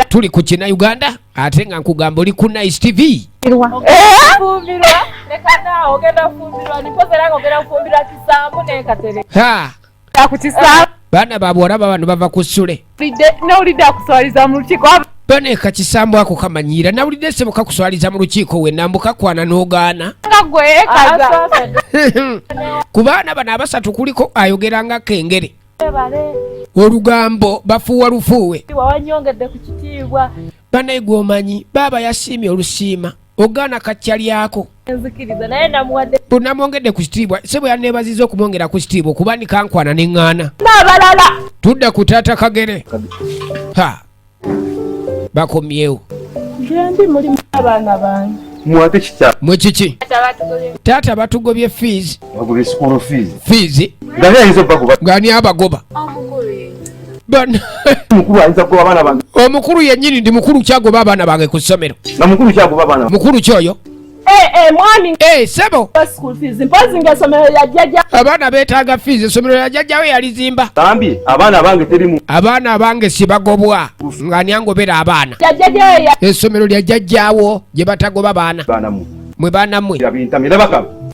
tuli ku kina uganda ate nga nkugamba oli ku nice tv baana babwala babano bava ku sule baneka kisambo ako kamanyiira nawulidde sebo kakuswaliza mu lukiiko wenna mbu kakwana n'ogaana ku baana bano abasatu kuliko ayogera nga kengere olugambo bafuuwa lufuuwe banaye gwomanyi baaba yasiimye olusiima ogaana kacca lyako bunamwongedde ku kitiibwa se bwe yaneebaziza okumwongera ku kitiibwa okuba nikankwana ne ŋŋaana tudda ku taata kagere ha bakomyewo gyendi mulimu abaana bange mwate kitya mwe kiki taata batugobye fees bagobye school fees fees ngani ayinza obagoba ngani abagoba omukulu yenyini ndi mukulu kyagoba abaana bange ku ssomero mukulu kyoyo Eh, eh, mwami eh, sebo abaana betaaga fiizi esomero ya jajjawo yalizimba bambi abaana abange terimu abaana abange sibagobwa nga nyangobera abaana esomero lya jajjawo gye batagoba baana mwe baana mwe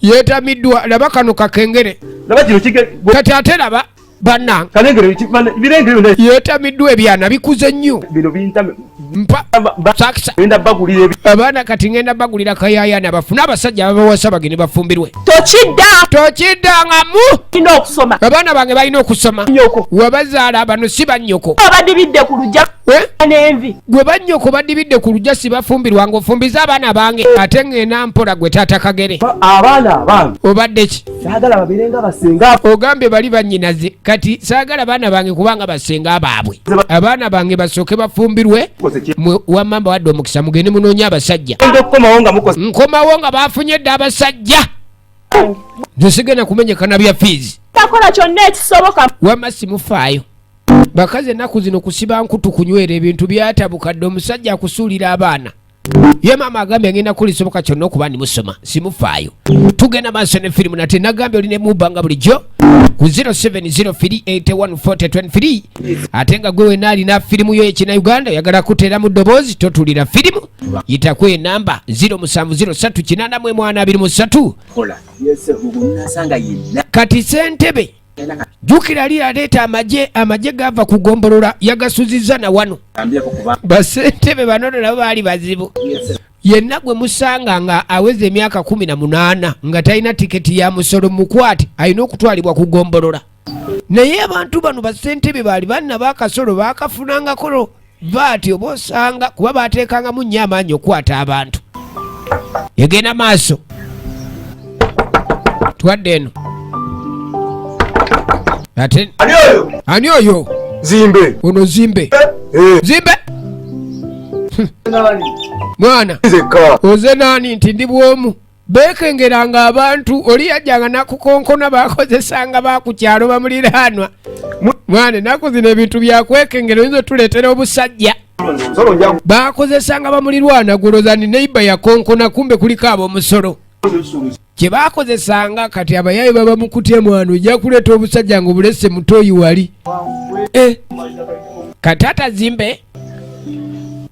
yetamiddwa laba kano kakengere kati ate laba banange yetamiddwa ebyana bikuze nnyo abaana kati ngenda bagulira kayayana bafune abasajja babawasa bagende bafumbirwe tokiddangamu abaana bange balina okusoma wabazaala bano si bannyoko gwe bannyoko badibidde ku lujja sibafumbirwa ngaofumbiza abaana bange ate ngenda mpola gwe taata kagere obaddeki saagala babeere nga basenga ogambye bali banyinaze kati saagala baana bange kubanga basenga baabwe abaana bange basooke bafumbirwe wamamba wadde omukisa mugende munoonya abasajja nkomawo nga bafunye dde abasajja nzesigenda kumenyekana bya fiizi takola kyonna ekisoboka wama simufaayo bakazi ennaku zino kusiba nkutu kunywera ebintu byatabuka dde omusajja akusuulira abaana ye maama agambye ngenda kuli soboka kyonna okuba ndi musoma simufaayo tugenda maaso ne firimu nate nagambye oli nemubanga bulijjo ku 0703814023 ate nga gwe wena alina firimu yo ekina uganda oyagala kuteera mu ddoboozi totulira firimu yitaku enamba 0703 kati sentebe jukira lira leeta amaje amaje gava ku gombolola yagasuziza na wano basentebe banono nabo baali bazibu yenna gwe musanga nga aweza emyaka kumi na munaana nga talina tiketi ya musolo mukwate alina okutwalibwa ku gombolola naye abantu bano basentebe baali banna bakasolo bakafunangakolo baati oba osanga kuba baateekangamu nnyo amaanyi okukwata abantu egenda maaso twadde eno ate ani oyo zimbe ono zimbe eh, eh. zimbe mwana oze nani nti ndi bwomu beekengeranga abantu oli yajjanga nakukonkona bakozesanga bakukyalo bamuliraanwa mwana enaku zino ebintu byakwekengera oyinza otuleetera obusajja bakozesanga bamulirwana gulozani neiba yakonkona kumbe kuliko abomusolo kye bakozesanga kati abayayi baba mukutya mwana ojja kuleeta obusajja nga obulese mutoyi wali eh. kati atazimbe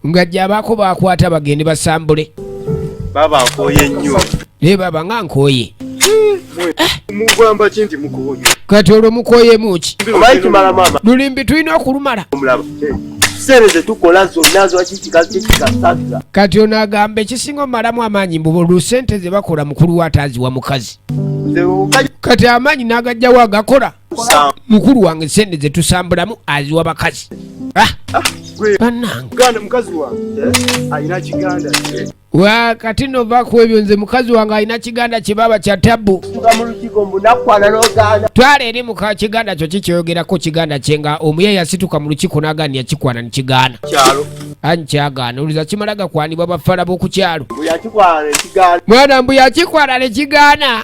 nga gyabaako bakwata bagende basambule baba nkoye nnyo naye baba nga nkoye mugamba ki nti mukoye kati olwo mukoyemu ki obayikimala mama lulimbi tulina okulumala omulaba sente zetukola zonna zwakikiakikiasabira kati ono agamba ekisinga omalamu amaanyi mbuba olwo sente zebakola mukulu we ataaziwa mukazi kati amaanyi n'agajjawo agakola mukulu wange sente zetusambulamu aziwa bakazi ah, ah, wakati eh, nova ku ebyo nze mukazi wange alina kiganda kye baba kya tabu twala eri muka kiganda kyo kikyoyogerako kiganda kye nga omuye yasituka mu lukiko nagani yakikwana nikigaana anyi kyagaana oluza kimala gakwanibwa bafala b'okukyalo mwana mbu yakikwala ne kigaana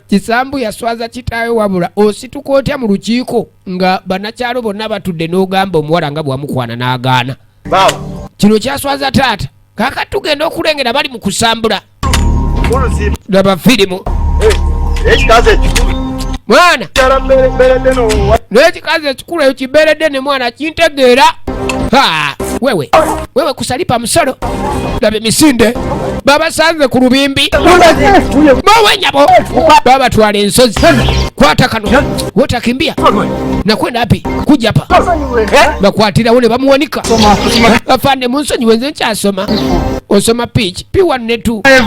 kisambu yaswaza kitaawe wabula osituka otya mu lukiiko nga banakyalo bonna batudde n'ogamba omuwala nga bwamukwana n'agaana kino kyaswaza taata kakati tugenda okulengera bali mu kusambula laba firimu mwana nekikazi ekikulu eyo kiberedde ne mwana kintegeera wewe wewe kusalipa musolo laba emisinde babasanze ku lubimbi bawenyabo babatwala ensozi kwata kano wotakimbia nakwenda api kujapa eh? bakwatirawo ne bamuwanika afande munsonyi wenze nkyasoma osoma pich p1 ne 2 eh,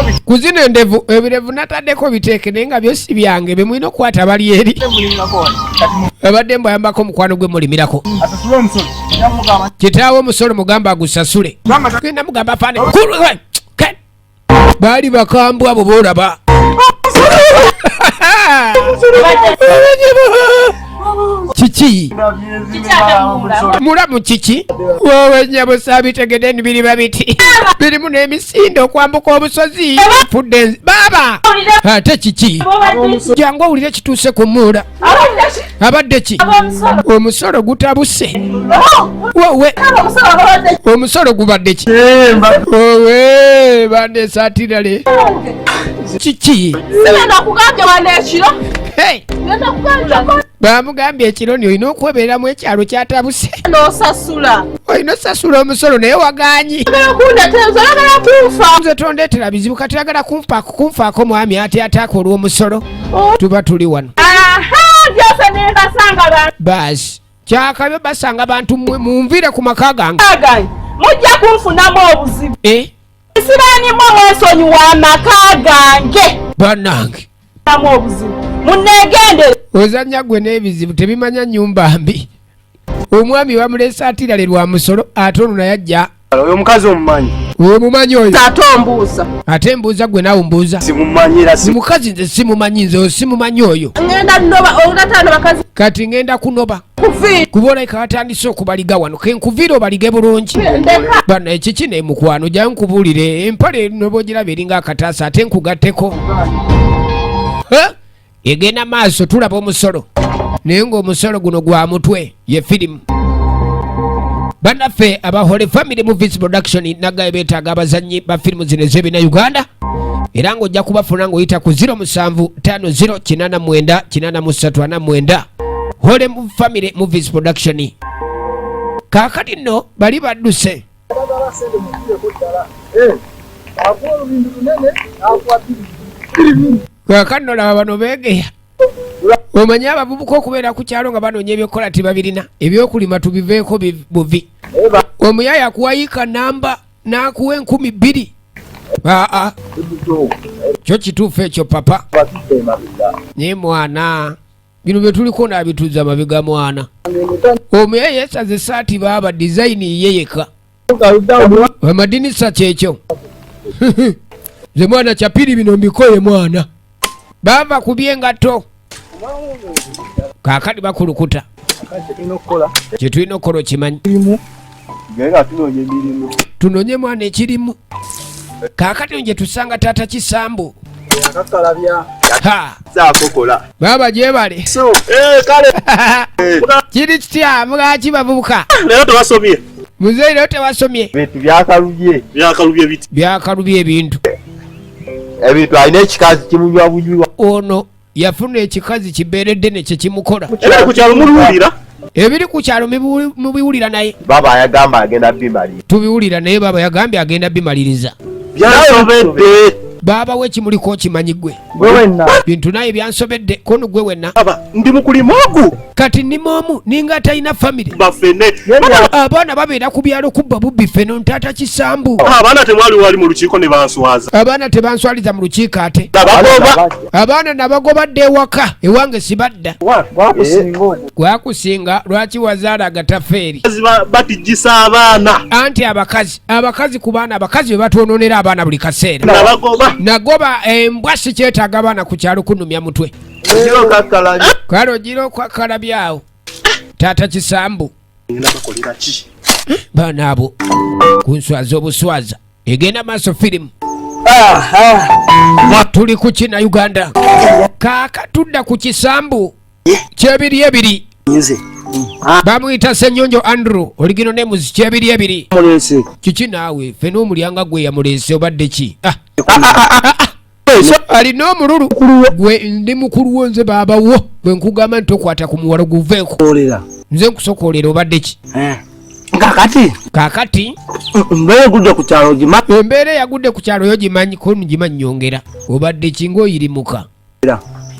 eh, ku zino endevu ebirevu nataddeko biteeke naye nga byosi byange bemulina okukwata bali eri abadde mbu ayambako omukwano gwe mulimirako kitaawo omusolo mugamba agusasule genda mugamba afande baali bakambwe abo boolaba kiki mulamu kiki wowe nyabo sabitegede nibiriba biti birimu n'emisinde okwambuka obusozi fudde baaba ate kiki jangu owulire kituuse ku muula abadde ki omusolo gutabuse wowe omusolo gubadde ki owe bande satirale kiki bamugambye ekiro ni olina okwebeeramu ekyalo kyatabuse nosasula olina osasula omusolo naye waganyi nze tondetera bizibu kati agala kunfaako mwami ati ataaka olw'omusolo oh. tuba tuli wano baasi kyakabe basanga bantu mwe munvire ku maka gange mujja kunfunamu obuzibu eh? sibanimu mwesonyiwa amaka gange banange obuzibu munegendere ozanya gwe n'ebizibu tebimanya nyumba mbi omwami bamulese atirale lwa musolo ate ono naye ajja oyo omukazi omumanyi oyo mumanyi oyo ate ombuuza ate mbuuza gwe nawe mbuuza simumanyira mukazi nze simumanyi nze oyo simumanyi oyo ngenda noba olatano bakazi kati ngenda kunoba kuba olabika batandise okubaliga wano kenkuviire obalige bulungi bano ekiki ne mukwano jayo nkubuulire empale nobogiraba eringa akataasa ate nkugatteko egenda maaso tulaba omusolo naye ngaomusolo guno gwa mutwe ye firimu banaffe aba holy family movies production nagaye betaaga abazannyi ba firimu zino ez'ebina uganda era ng'ojja kubafuna ng'oyita ku 0758899349 holy family movies production kaakati nno bali badduse Abagala sente mukireko ddala. Eh. Akuwa olubindu lunene, akuwa bbiri. Bbiri bbiri. Kakanno laba bano beegeya. Omanyi abavubuka okubeera ku kyalo nga banoonya ebyokukola tebabirina. Ebyokulima tubiveeko buvi. Omuyaya akuwayiika namba n'akuwa enkumi bbiri. Aa. Ah, ah. Kyo kituufu ekyo papa. Naye mwana. bino byetuliko nabituza mabega mwana omuya yesaza esaati baaba dizayini ye yeka amadinisa kyekyo nze mwana kyapiri bino mbikoye mwana baava ku byengato kakati bakulukuta kyetulina okukola okimanyi tunonye mwana ekirimu kakati nje tusanga tata kisambu baba gyebale eh, eh. kiri kitya mugaki bavubuka muzeyi lero tewasomye byakalubye ebintu ebintu alina ekikazi kimunywa bunywa ono yafuna ekikazi kibeere ddene kyekimukola ebiri ku kyalo mubiwulira naye baba ayagamba agenda bimalira tubiwulira naye baba yagambye agenda bimaliriza byasobedde baba we kimuli ko kimanyi gwe gwe wenna bintu naye byansobedde kono gwe wenna baba ndi mukulimu ogu kati ndi momu ninga talina family bafene abaana babeera ku byalo kubba bubbi fene ntaata kisambu abaana temwali wali mu lukiiko ne banswaza abaana tebanswaliza mu lukiiko ate abaana nabagoba dda ewaka ewange sibadda gwakusinga lwaki wazaala agatafeeri batijisa abaana anti abakazi abakazi ku baana abakazi be batwononera abaana buli kaseera nagoba embwa eh, sikyetaaga abaana ku kyalo kunumya mutwe kale ogira okwakalabyawo taata kisambu baana abo kunswaza obuswaza egenda maaso firimu tuli ku kina uganda kaaka tudda ku kisambu kyebiri ebiri bamuyita senyonjo andrew oligino nemuzi kyebiri ebiri kiki naawe fe n'omulyanga gwe yamuleese obadde ki ah. Ah, ah, alina omululu gwe ndi mukulu wo nze baaba wo bwe nkugamba nti tokwata ku muwalo guveeko nze nkusokoolera obadde ki eh. kakati kakati embeera egudde ku kyalo ogimanyi embeera eyagudde ku kyalo yo gimanyi ko gimanyi nyongera obadde kinga oyirimuka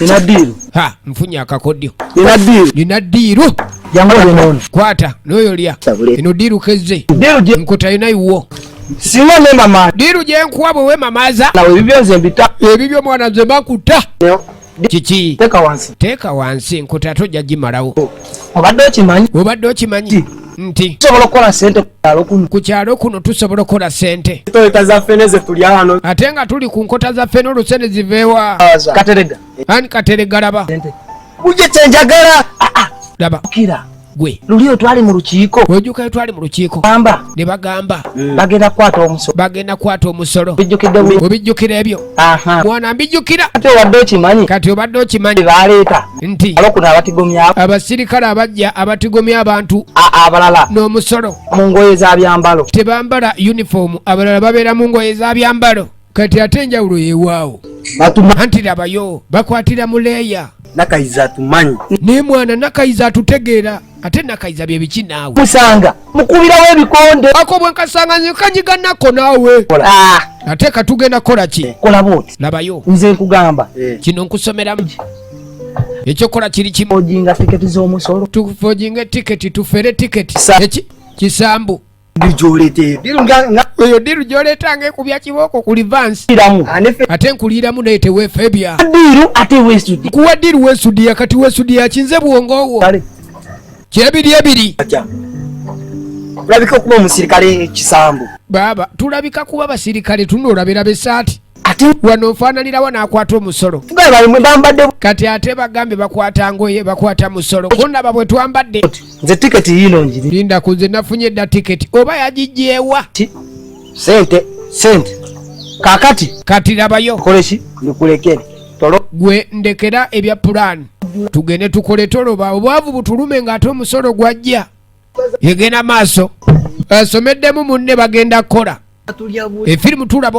Nina diiru. Ha, mfunye akakodyo. Nina diiru. Nina diiru. Yangu oli nono. Kwata, noyo lya. Ino diiru keze. Diiru je. Nkuta ina iwo. Sima ne mama. Diiru je nkuwa bwe mamaza. Na webibyo nze mbita. Ebibyo mwana nze bakuta. Nyo. Kiki. Teka wansi. Teka wansi, nkuta to jaji marawo. Obadde okimanyi. Obadde okimanyi. nti tusobola okukola sente kukyalo kuno ku kyalo kuno tusobola okukola sente toleka zaffe neze tulya wano ate nga tuli ku nkota zaffe n'olusente ziveewa katerega ani katerega laba buje kyenjagala ah, ah. laba kira gwe lulio twali mu lukiiko wejukayo twali mu lukiiko gamba ne bagamba mm. bagenda kwata omusolo bagenda kwata omusolo bijjukidde obijjukira ebyo mwana mbijjukira ate obadde okimanyi kati obadde okimanyi baleeta nti olwokuna abatigomya abasirikale abajja abatigomya abantu abalala n'omusolo mu ngoye za byambalo tebambala yunifoomu abalala babeera mu ngoye za byambalo kati ate enjawulo yewaawo anti labayo bakwatira mu leeya nakayiza atumanyi naye mwana nakayiza atutegeera ate nakayiza byebiki naawe musanga mukubirawo ebikonde ako bwenkasanga nkanyiga nako naawe ah. ate katugenda kukola ki eh, kola bwoti labayo nze nkugamba eh. kino nkusomeramu ekyokukola kiri kimu ojinga tiketi z'omusolo tufojinga etiketi tufere tiketi kisambu oyo diru gyoleeta nga ekubya kibooko ku livansi ate nkuliiramu naye tewefebya kuwa diru wesudiya kati wesudiya kinze bwongowo kyebiri ebiri tulabika okuba omusirikale ekisambu baaba tulabika kuba basirikale tunoolabira besaati ate wano nfaananirawo n'akwata omusolo kati ate bagambye bakwata ngoye bakwata musolo kundaba bwe twambadde nze tiketi yiino ngiri linda ku nze nafunye dda tiketi oba yagigyewa sente sente kakati kati labayo koleki ndikulekere tolo gwe ndekera ebya pulaani tugende tukole toloba obwavu butulume ng'ate omusolo gwajja egenda maaso asomeddemu munne bagenda kukola efirimu tulaba